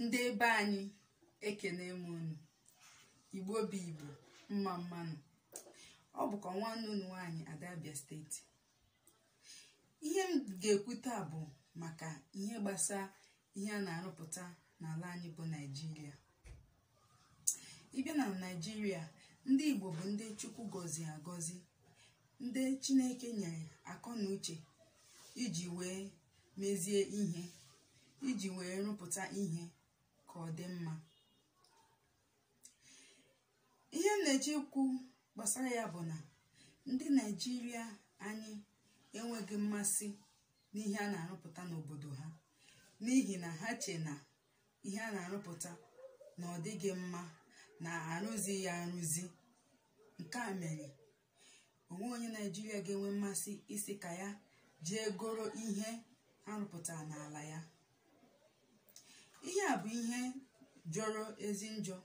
ndị ebe anyị ekene m unu igbo bụ igbo mma mma nụ ọ bụkwa nwanne unu nwaanyị ada abịa steeti ihe m ga-ekwu taa bụ maka ihe gbasara ihe a na-arụpụta n'ala anyị bụ naijiria ị bịa na naijiria ndị igbo bụ ndị chukwu gọziri agọzi ndị chineke nyere akọ na uche iji wee mezie ihe iji wee rụpụta ihe ka ọ dị mma ihe m na-eche ikwu gbasara ya bụ na ndị naijiria anyị enweghị mmasị n'ihe a na-arụpụta n'obodo ha n'ihi na ha che na ihe a na-arụpụta na ọ dịghị mma na arụzi ya arụzi nke a mere o nweghị onye naijiria ga-enwe mmasị ịsị ka ya jee goro ihe a rụpụtara n'ala ya ihe a bụ ihe jọrọ ezi njọ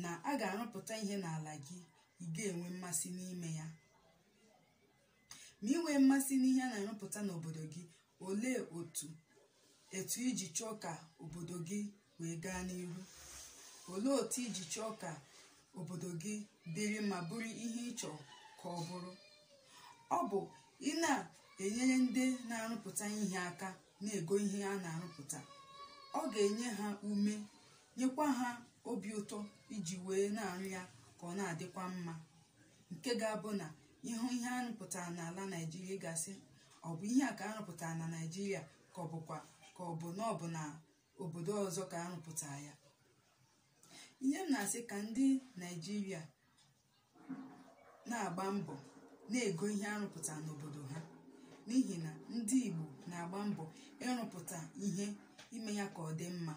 na a ga-arụpụta ihe n'ala gị ị ga-enwe mmasị n'ime ya ma i nwee mmasị n'ihe a na-arụpụta n'obodo gị olee otu etu i ji chọọ ka obodo gị wee gaa n'ihu olee otu i ji chọọ ka obodo gị dịrị ma bụrụ ihe ị chọrọ ka ọ bụrụ ọ bụ ị na-enyere ndị na-arụpụta ihe aka na-ego ihe a na-arụpụta ọ ga-enye ha ume nyekwa ha obi ụtọ iji wee na-arụ ya ka ọ na-adịkwa mma nke ga-abụ na ị hụ ihe a rụpụtara n'ala naijiria ị ga-asị ọ bụ ihe a ka a rụpụtara na naijiria ka ọ bụkwa ka ọ bụ na ọ bụ na obodo ọzọ ka a rụpụtara ya ihe m na-asị ka ndị naijiria na-agba mbọ na-ego ihe a rụpụtara n'obodo ha n'ihi na ndị igbo na-agba mbọ ịrụpụta ihe ime ya ka ọ dị mma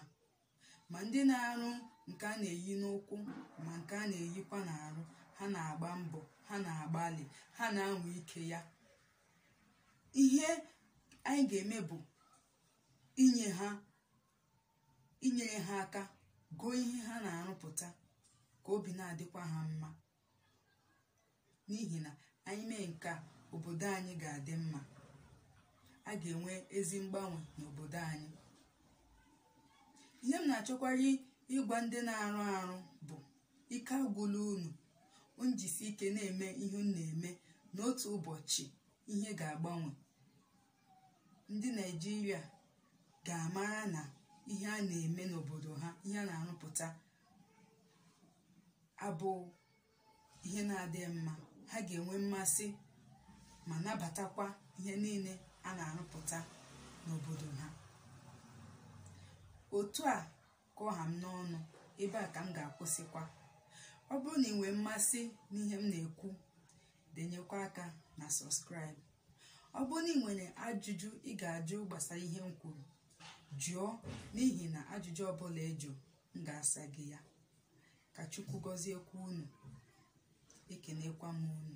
ma ndị na-arụ nke a na-eyi n'ụkwụ ma nke a na-eyikwa n'arụ ha na-agba mbọ ha na-agbalị ha na-anwa ike ya ihe anyị ga-eme bụ inye ha inyere ha aka goo ihe ha na-arụpụta ka obi na-adịkwa ha mma n'ihi na anyị mee nke a obodo anyị ga-adị mma a ga-enwe ezi mgbanwe n'obodo anyị ihe m na-achọkwara ịgwa ndị na-arụ arụ bụ ike agwụla unu njisi ike na-eme ihe unu na-eme na otu ụbọchị ihe ga-agbanwe ndị naijiria ga-amara na ihe a na-eme n'obodo ha ihe a na-arụpụta abụ ihe na-adị mma ha ga-enwe mmasị ma nabatakwa ihe niile a na-arụpụta n'obodo ha otu a ka ọ ha m n'ọnụ ebe a ka m ga-akwụsịkwa ọ bụrụ na ị nwee mmasị n'ihe m na-ekwu denyekwa aka na subscribe ọ bụrụ na ị nwere ajụjụ ị ga-ajụ gbasara ihe m kwuru jụọ n'ihi na ajụjụ ọbụla ị jụ m ga-asa gị ya ka chukwu gọziekwa unu ekenekwa m unu